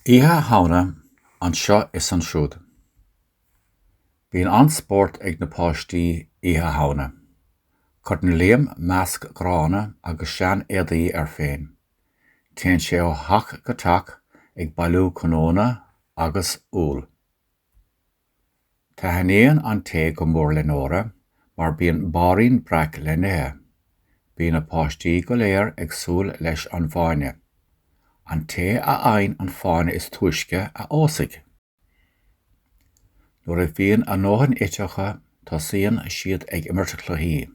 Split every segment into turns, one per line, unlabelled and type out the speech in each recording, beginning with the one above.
Oíche Shamhna anseo is ansiúd. Bíonn an-spórt ag na páistí Oíche Shamhna. Cuireann Liam masc gránna agus seanéadaí air féin. Téann sé ó theach go teach ag bailiú cnónna agus úll. Taithníonn an tae go mór le Nóra mar bíonn bairín breac le n-ithe. Bíonn na páistí go léir ag súil leis an bhfáinne. An té a fhaigheann an fáinne is túisce a phósfaidh. Nuair a bhíonn a ndóthain ite acu tosaíonn siad ag imirt cluichí.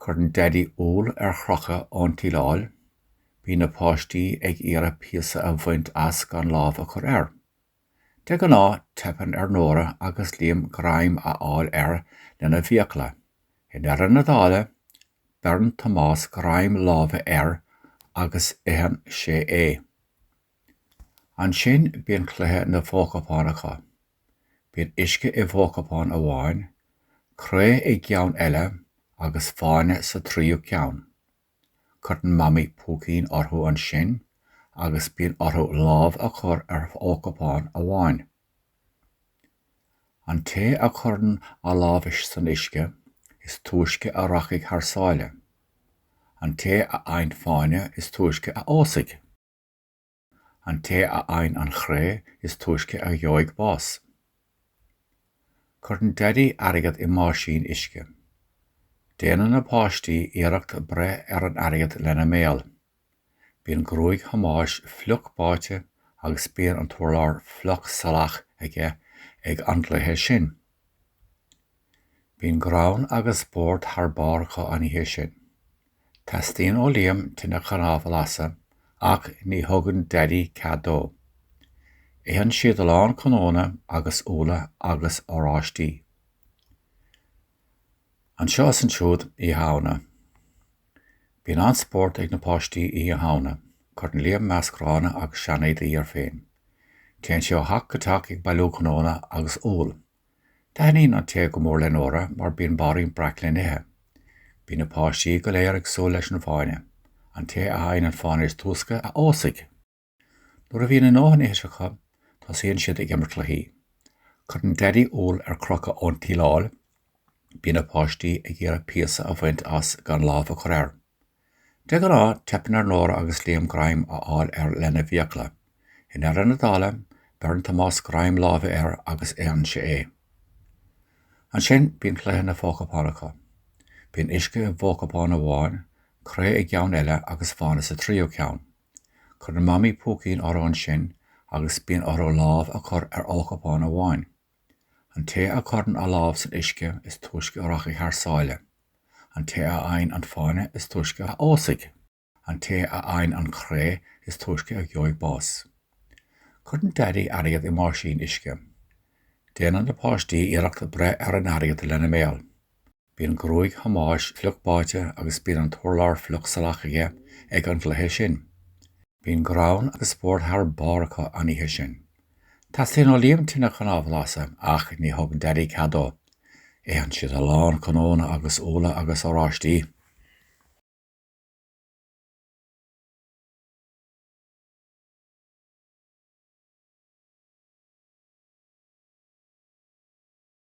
Cuireann Daidí úll ar chrochadh ón tsíleáil. Bíonn na páistí ag iarraidh píosa a bhaint as gan lámh a chur air. De ghnáth teipeann ar Nóra agus Liam greim a fháil air lena bhfiacla. I ndeireadh na dála, beireann Tomás greim láimhe air agus itheann sé é. Ansin bíonn cluiche na bhfochupán acu. Bíonn uisce i bhfochupán amháin, cré i gceann eile agus fáinne sa tríú ceann. Cuireann Mamaí púicín orthu ansin agus bíonn orthu lámh a chur ar fhochupán amháin. An té a chuireann a lámh san uisce is túisce a rachaidh thar sáile. An té a fhaigheann fáinne is túisce a phósfaidh. An té a fhaigheann an chré is túisce a gheobhaidh bás. Cuireann Daidí airgead i mbáisín uisce. Déanann na páistí iarracht breith ar an airgead lena mbéal. Bíonn gruaig Thomáis fliuch báite agus bíonn an t-urlár fliuch salach aige ag an gcluiche sin. Bíonn greann agus spórt thar barr acu an oíche sin. Teastaíonn ó Liam tine chnámh a lasadh ach ní thugann Daidí cead dó. Itheann siad a lán cnónna agus úlla agus oráistí. Anseo is ansiúd Oíche Shamhna. Bíonn an-spórt ag na páistí Oíche Shamhna. Cuireann Liam masc gránna agus seanéadaí air féin. Téann sé ó theach go teach ag bailiú cnónna agus úll. Taithníonn an tae go mór le Nóra mar bíonn bairín breac le n-ithe. Bíonn na páistí go léir ag súil leis an bhfáinne. An té a fhaigheann an fáinne is túisce a phósfaidh! Nuair a bhíonn a ndóthain ite acu, tosaíonn siad ag imirt cluichí. Cuireann Daidí úll ar crochadh ón tsíleáil. Bíonn na páistí ag iarraidh píosa a bhaint as gan lámh a chur air. De ghnáth, teipeann ar Nóra agus Liam greim a fháil air lena bhfiacla. I ndeireadh na dála, beireann Tomás greim láimhe air agus itheann sé é. Ansin, bíonn cluiche na bhfochupán acu. Bíonn uisce i bhfochupán amháin, cré i gceann eile agus fáinne sa tríú ceann. Cuireann Mamaí púicín orthu ansin agus bíonn orthu lámh a chur ar fhochupán amháin. An té a chuireann a lámh san uisce is túisce a rachaidh thar sáile. An té a fhaigheann an fáinne is túisce a phósfaidh. An té a fhaigheann an chré is túisce a gheobhaidh bás. Cuireann daidí airgead i mbáisín uisce. Déanann na páistí iarracht breith ar an airgead lena mbéal. Bíonn gruaig Thomáis fliuch báite agus bíonn an t-urlár fliuch salach aige ag an gcluiche sin. Bíonn greann agus spórt thar barr acu an oíche sin. Teastaíonn ó Liam tine chnámh a lasadh ach ní thugann Daidí cead dó. Itheann siad a lán cnónna agus úlla agus oráistí.